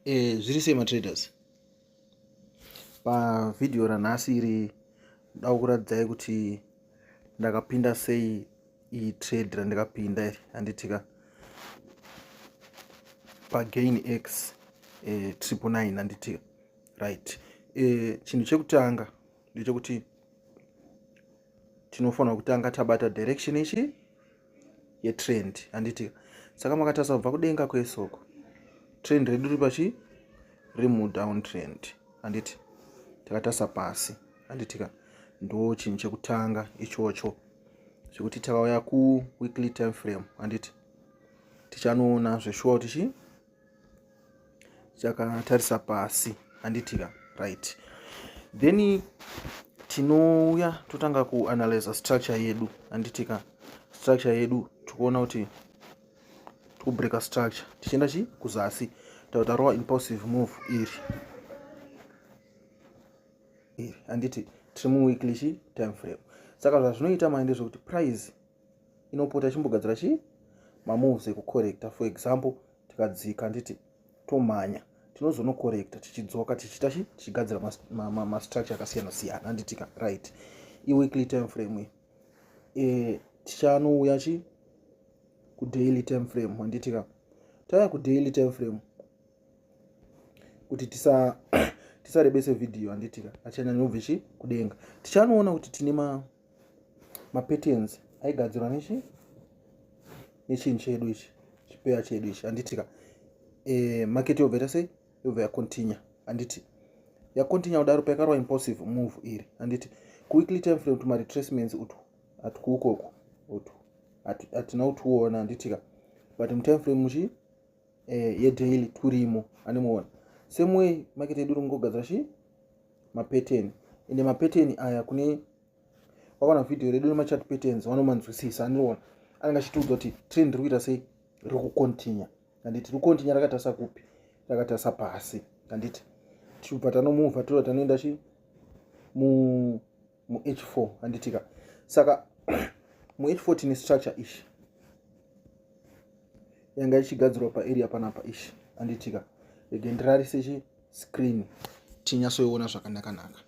eh, zviri sei matraders pavhidhiyo ranhasi iri nda kuratidzai kuti ndakapinda sei iyi trade randikapinda iri handitika pagain x eh, triple nine handitika right eh, chinhu chekutanga ndechekuti tinofanira kutanga tabata direction ichi yetrend handiti saka makatarisa kubva kudenga kwesoko trend redu riri pachi riri mudown trend handiti takatarisa pasi handitika ndo chinhu chekutanga ichocho zvekuti takauya kuweekly time frame handiti tichanoona zveshuwa kuti chi chakatarisa pasi handiti ka right then tinouya totanga kuanalyza structure yedu handiti ka structure yedu tikuona kuti tikubreaker structure tichienda chi kuzasi tauta rowa impulsive move iri iri handiti tiri muweekly chi time frame saka zvazvinoita mai ndezvekuti price inopota ichimbogadzira chii mamoves ekucorrecta for example tikadzika nditi tomhanya tinozonocorrecta tichidzoka tichiita chi tichigadzira mastructure akasiyana siyana anditika right iweekly time frame e, tichanouya chi kudaily time frame anditika tauya kudaily time frame kuti tisa tisarebese vhidhiyo handitika achanyanyobve chi kudenga tichanoona kuti tine ma mapatterns aigadzirwa nechi nechinhu chedu ichi chipeya chedu ichi handitika e, eh, market yobva ita sei yobva yacontinue handiti yacontinue kudaro payakarwa impulsive move iri handiti kuweekly time frame kuti maretracements utu hatikuukoku utu hatina kutiona handitika but mutime frame muchi e, yedaily turimo andimuona same way market yedu iri kungogadzira chii mapateni ende mapateni aya kune wakaona vhidhiyo redu nemachat patterns vanomanzwisisa andiona anenge achitiudza kuti trend riri kuita sei riri kucontinua handiti riri kucontinua rakatarisa kupi rakatarisa pasi handiti tichibva tanomuvha too tanoenda chi mu muh4 handitika saka muh4 tine structure ishi yanga ichigadzirwa paarea panapa ishi handitika rege ndirarise chi screen tinyatsoiona zvakanakanaka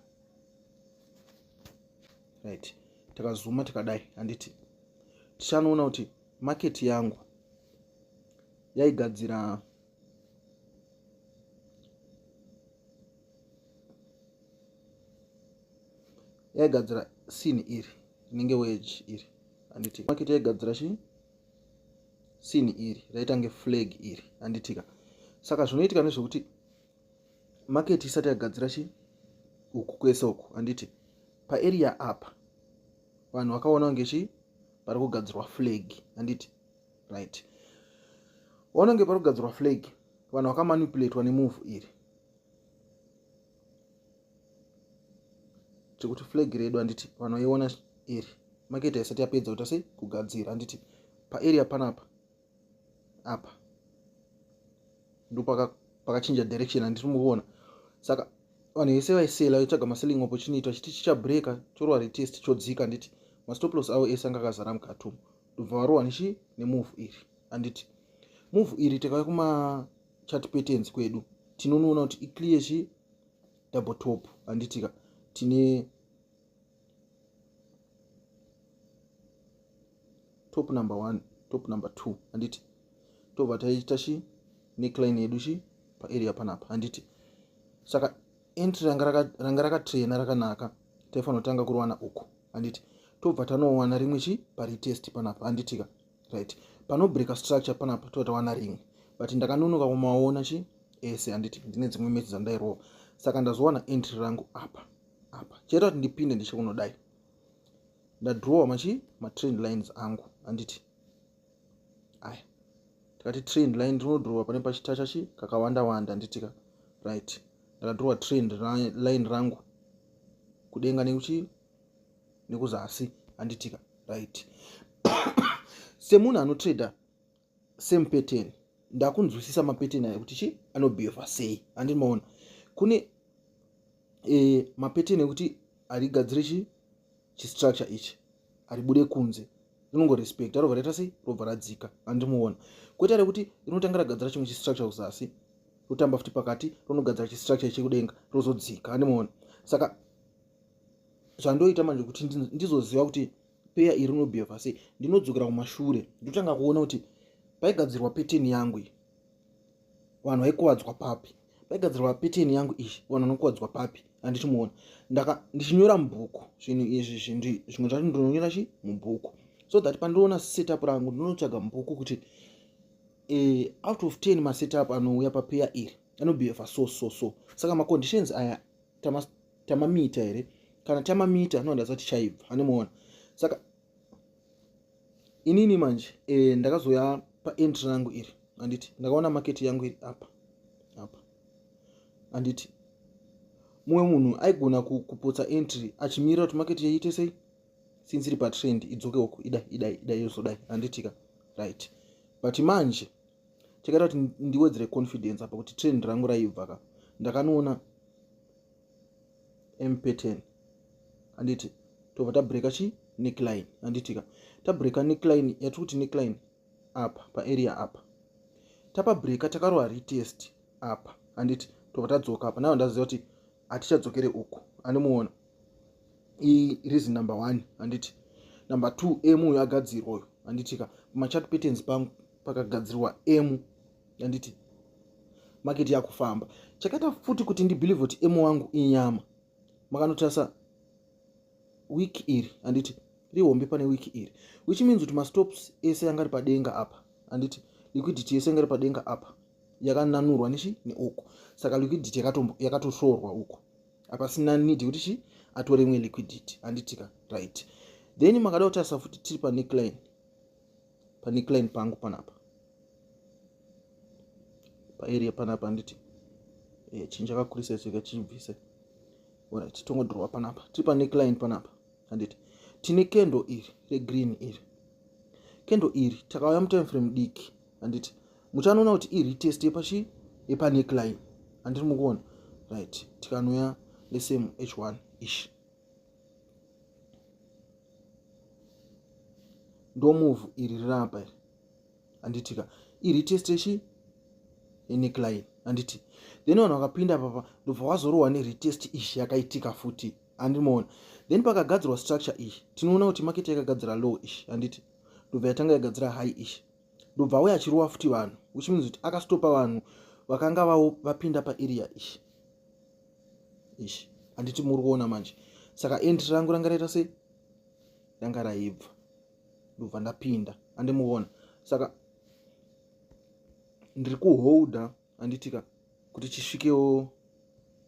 right takazuma tikadai handiti tichanoona kuti market yangu yaigadzira yaigadzira sin iri rinenge wage iri anditika maketi yaigadzira chii sin iri raitange flag iri anditika saka zvinoitika nezvekuti maketi isati yagadzira chii uku kwese uku anditi paeria apa vanhu vakaona kunge chii pari kugadzirwa flag anditi right wanonge pari kugadzirwa flag vanhu vakamanipulatwa nemuvhu iri chekuti flag redu handiti vanhu vaiona iri maketa isati yapedza kuita sei kugadzira handiti paarea panapa apa ndopakachinja paka direction handiti mukuona saka vanhu vese vaisela vaitsvaga maselling opportunity vachiti chichabreaka chorwa retest chodzika handiti mastoplos avo ese anga akazara mukati umu ndobva varohwa nechi nemove iri handiti move iri takauya kumachat patterns kwedu tinonoona kuti iclear chi double top handitika tine top number one top number two handiti tobva taita chi necline yedu chi paarea panapa handiti saka entry ranga rakatraina rakanaka taifanotanga kurowana uku handiti tobva tanowana rimwe chi paretest panapa handitika right panobreaka structure panapa tobva tawana rimwe but ndakanonoka kumaona chi ese handiti ndine dzimwe match dzandairowa saka ndazowana entry rangu apa apa chaita kuti ndipinde ndichikunodai ndadrawa machi matrend lines angu handiti aya tikati trend line rinodhurowa pane pachitacha chi kakawanda wanda nditika right ndakadhurowa trend line rangu kudenga nekuchi nekuzasi anditika right semunhu anotrader same pattern ndakunzwisisa mapattern ayo kuti chi anobehava sei andini maona kune e, mapattern ekuti harigadziri chi chistructure ichi haribude kunze rinongorespecta robva raita sei robva radzika andimuona kwete rekuti rinotanga ragadzira chimwe chistructure kuzasi rotamba futi pakati ronogadzira chistructure chekudenga rozodzika andimuona saka zvandoita manje kuti ndizoziva kuti peya iri rinobheva sei ndinodzokera kumashure ndotanga kuona kuti paigadzirwa peteni yangu iyi vanhu vaikuvadzwa papi paigadzirwa peteni yangu iyi vanhu vanokuvadzwa papi handiti muona ndaka ndichinyora mubhuku zvinhu izvi zvinhu zvimwe zvacho ndinonyora chi mubhuku so that pandinoona setup rangu ndinotsvaga mubhuku kuti uh, out of ten masetup anouya papeya iri anobehavha so so so saka maconditions aya tamamita tama here kana tamamita anondaza tichaibva anemuona saka inini manje e, ndakazouya paentry rangu iri anditi ndakaona maketi yangu iri apa apa anditi mumwe munhu aigona kupotsa entry achimirira kuti maketi yaiite sei since iri patrend idzoke uku idai idai idai yozodai anditika right but manje tikaita kuti ndiwedzere confidence apa kuti trend rangu raibva ka ndakanoona mpetin handiti tobva tabreaka chi neckline handitika tabreaka neckline yatiri kuti neckline apa paarea apa tapa breaka takarova retest apa handiti tobva tadzoka apa nava ndaziva kuti hatichadzokere uku andimuona iyi reason number one handiti number two m uyo agadzirwa uyo handitika machat patterns pangu pakagadzirwa m handiti maketi yakufamba chakaita futi kuti ndibhilivhe kuti emu wangu inyama makanotarisa wiki iri handiti rihombe pane wiki iri which means kuti mastops ese yanga ari padenga apa handiti liquidity yese yanga iri padenga apa yakananurwa nechi neuku saka liquidity yakatoshorwa uku apasina need kuti chi atore imwe liquidity handitika right then makada kutarisa futi tiri paneckline pane client pangu panapa paarea panapa handiti eh, chinhu chakakurisa chika chibvise orit tongodhurova panapa tiri pane client panapa handiti tine kendo iri regreen iri kendo iri takauya mutime frame diki handiti muchanoona kuti iri test yepachi yepane client handiti mukuona right tikanouya lesame h1 ishi ndomuvhu iri rirapa iri handitika iri testeshi eneklin handiti then vanhu vakapinda papa ndobva wazorohwa neretest ishi yakaitika futi handimoona then pakagadzirwa structure ishi tinoona kuti maketi yakagadzira low ishi handiti ndobva yatanga yagadzira high ishi ndobva auya achirowa futi vanhu which means kuti akastopa vanhu vakanga vapinda paarea ishi ishi handiti muri kuona manje saka entry rangu ranga raita sei ranga raibva ndobva ndapinda andimuona saka ndiri kuholda handitika kuti chisvikewo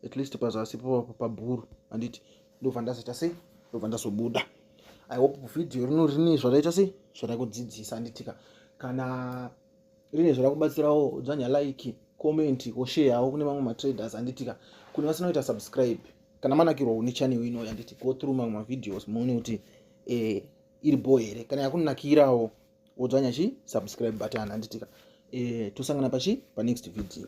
at least pazasi pabhuru handiti ndobva ndazoita sei ndobva ndazobuda i hope vhidhiyo rino rine zvaraita sei zvarakudzidzisa handitika kana rine zvarakubatsirawo dzvanya like comment or share yawo kune mamwe matraders anditika kune vasina kuita subscribe kana manakirwa une channel ino yanditi go through mamwe mavideos muone kuti eh, iri bho here kana yakunakirawo wodzvanya chi subscribe button anditika eh, tosangana pachi panext video